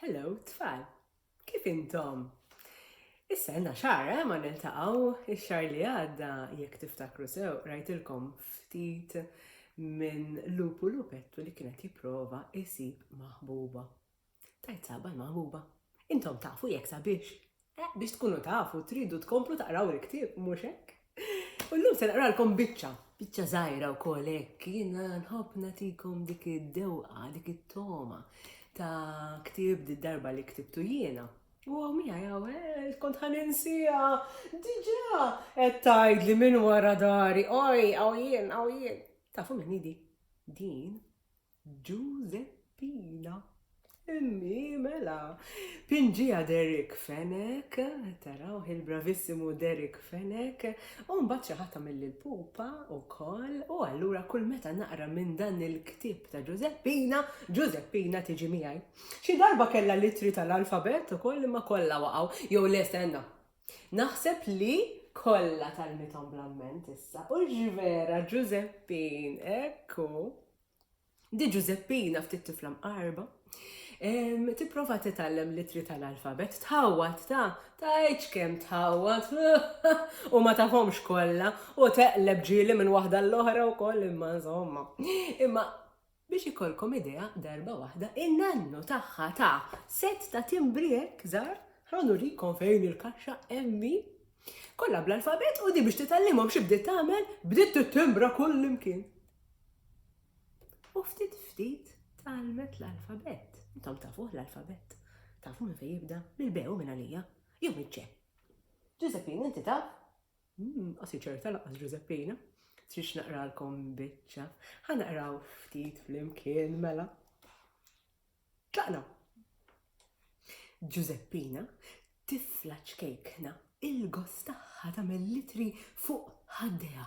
Hello, tfal! Kif intom? Issa għandna xar, eh, ma niltaqgħu ix-xar li għadda jekk tiftakru sew rajtilkom ftit minn lupu lupettu li kienet jipprova isib maħbuba. Tajt saba l-maħbuba. Intom tafu jekk sabiex Eh, biex tkunu tafu, tridu tkomplu taqraw il-ktieb, mhux hekk? U llum se naqralkom biċċa, biċċa żgħira wkoll hekk, jiena nħobb nagħtikom dik id-dewqa, dik it-toma ta' ktieb di darba li ktibtu jiena. U għamija jaw, eh, kont ħaninsija, diġa, et tajd li minn wara dari, oj, għaw jien, għaw jien. Tafu minn di, din, Ġużeppina, Immi, mela! Pinġiha Derrick Fenech, tarawh il-bravissimu Derrick Fenech, u mbagħad xi ħadd għamilli l-pupa wkoll, u allura kull meta naqra minn dan il-ktieb ta' Ġużeppina, Ġużeppina tiġi miegħi. Xi darba kellha l-ittri tal-alfabett ukoll imma kollha waqgħu, jew le stenna! Naħseb li kollha talmithom bl-amment issa, hux vera Ġużeppin, hekk hu! Di Ġużeppina ftit tifla mqarba, tipprova titgħallem l-ittri tal-alfabett, tħawwad ta' tgħidx kemm tħawwad u ma tafhomx kollha u teqleb ġieli minn waħda l-oħra wkoll imma insomma. Imma biex ikolkom idea darba waħda in-nannu tagħha ta' set ta' timbri hekk żgħar, ħa nurikom fejn il-kaxxa emmi kollha bl-alfabett u di biex titgħallimhom xi bdiet tagħmel bdiet tittimbra kullimkien. U ftit ftit tgħallmet l-alfabett. Intom tafuh l-alfabett? Tafu minn fejn jibda? Mill-B u minn għalija? Jew mill-C? Ġużeppin, inti taf? Hmm, qasi ċerta laqas Ġużeppina. Trix naqralkom biċċa. Ħa naqraw ftit flimkien mela. Tlaqna. Ġużeppina tifla ċkejkna il-gost tagħha tagħmel litri fuq ħaddejha.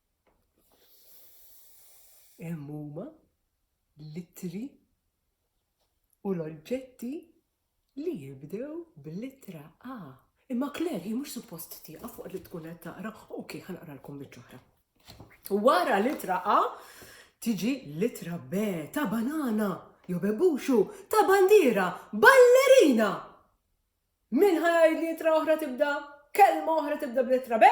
Hemm huma l-ittri u l-oġġetti li jibdew bl-ittra A. Imma Claire hi mhux suppost tieqaf waqt li tkun qed taqra. Ok, ħanaqralkom biċ-ċoħra. Wara l-ittra A tiġi l-ittra B ta' banana jew bebuxu ta' bandiera ballerina. Min ħajgħid li ittra oħra tibda kelma oħra tibda bl-ittra B?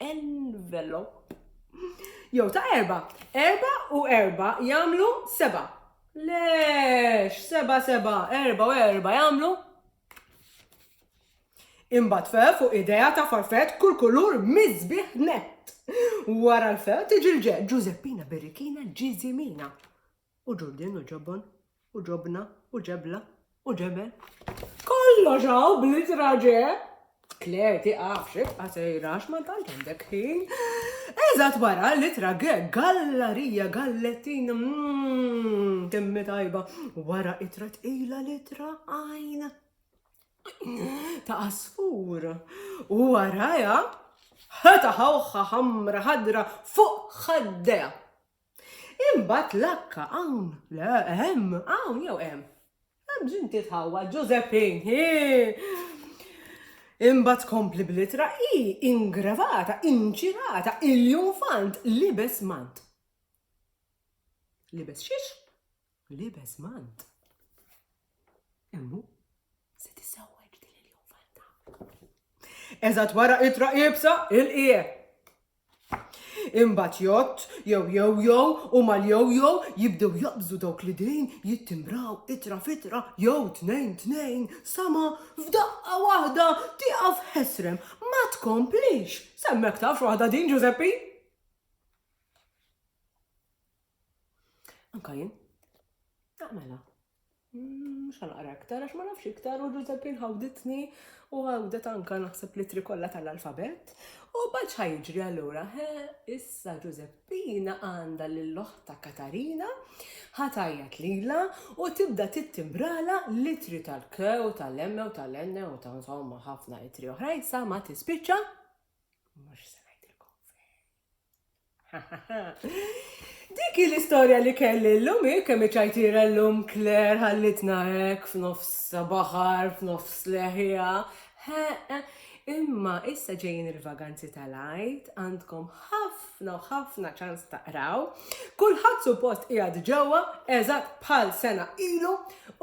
envelope. Jew ta' erba. Erba u erba jagħmlu seba. Lex, seba seba, erba u erba jagħmlu. Imbagħad fe fuq idea ta' farfet kull kulur miżbieħ net. Wara l-fe tiġi l-ġe Ġużeppina Birrikina Ġiżimina. u ġurdien u ġobon u ġobna u ġebla u ġebel. Kollox hawn bl-ittra ġe! Claire tiqafx ibqa' sejra għax ma tant għandek ħin. Eżatt wara l-ittra ge gallarija gallettin mm, timmi tajba wara itra tqila l-ittra għajn ta' asfur. U waraja ħata ħawħa ħamra ħadra fuq ħaddeja. Imbagħad lakka hawn, le, hemm, hawn jew hemm. Hemm bżonn titħawwa Ġużeppin, Imbagħad tkompli bl-ittra hi ingravata, inċirata, il-junfant libes mant. Libes xiex? Libes mant. Immu se tisewwek din il-juvelta. Eżatt wara itra ibsa il-qie. Imbagħad jott jew jew jew u mal-jew jew jibdew jaqbżu dawk li dejn jittimbraw itra fitra jew tnejn tnejn sama f'daqqa waħda tieqaf ħesrem ma tkomplix. Semmek tafx waħda din Ġużeppi? Anka jien. Ah, mela. Mm, mux għanqra iktar, għax ma nafx iktar, u Giuseppin ħawditni u għawdet anka naħseb li trikolla tal-alfabet. U bħalċ ħajġri għallura, he, issa Giuseppina għanda l-loħta Katarina, ħatajat lila u tibda tittimbrala litri tal-ke u tal-emme u tal-enne u tal-insomma ħafna litri oħrajn sa ma tispiċċa. Mux Dik hi l-istorja li kelli llum hi kemm iċajtira llum Claire ħallitna hekk f'nofs baħar, f'nofs leħja. Imma issa ġejjin il-vaganzi tal-Għid, għandkom ħafna u ħafna ċans taqraw. Kulħadd suppost qiegħed ġewwa eżatt bħal sena ilu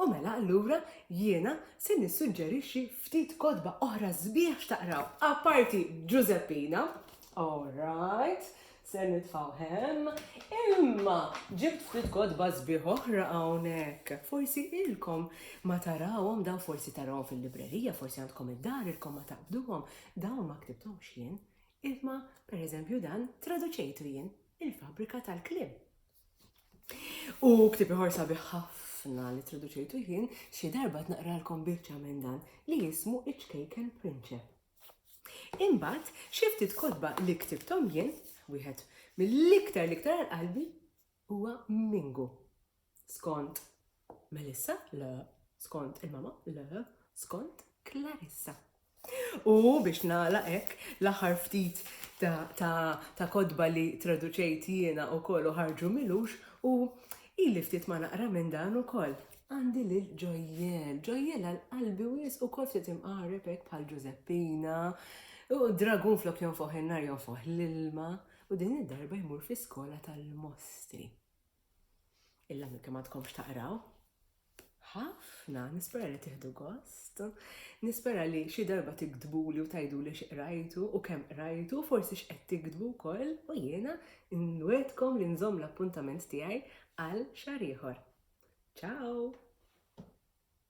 u mela allura jiena se nissuġġerixxi ftit kotba oħra sbieħ x'taqraw. Apparti Ġużeppina, All right, se nitfgħu hemm. Imma ġibt ftit kotba sbieħ oħra hawnhekk. Forsi ilkom ma tarawhom dawn forsi tarawhom fil-librerija, forsi għandkom id-dar ilkom ma taqbduhom, dawn ma ktibtom xien. Imma pereżempju dan traduċejtu jien il-fabrika tal-kliem. U ktib iħor sabiħ ħafna li traduċejtu jien xi darba tnaqralkom biċċa minn dan li jismu Iċkejken Prinċep. Imbagħad xi ftit kotba li ktibthom jien, wieħed mill-iktar l-iktar għal qalbi huwa Mingu. Skont Melissa, le, skont il-mama, le, skont Clarissa. U biex nagħlaq hekk l-aħħar ftit ta' kodba li traduċejt jiena wkoll u ħarġu milux u ili ftit ma naqra minn dan ukoll. Għandi lil Ġojjel. Ġojjel għal qalbi wies ukoll ftit imqareb hekk bħal Ġużeppina. U d-dragun flok jonfoħ in-nar jonfoħ l-ilma u din id-darba jmur fi skola tal-mostri. Illa minn kemm għadkomx taqraw? ħafna, nispera li tiħdu gost, nispera li xi darba tiktbuli u tajdu li x'qrajtu u kemm qrajtu, forsi x'qed tiktbu wkoll u jiena Inwegħedkom li nżomm l-appuntament tiegħi għal xahar ieħor. Ciao!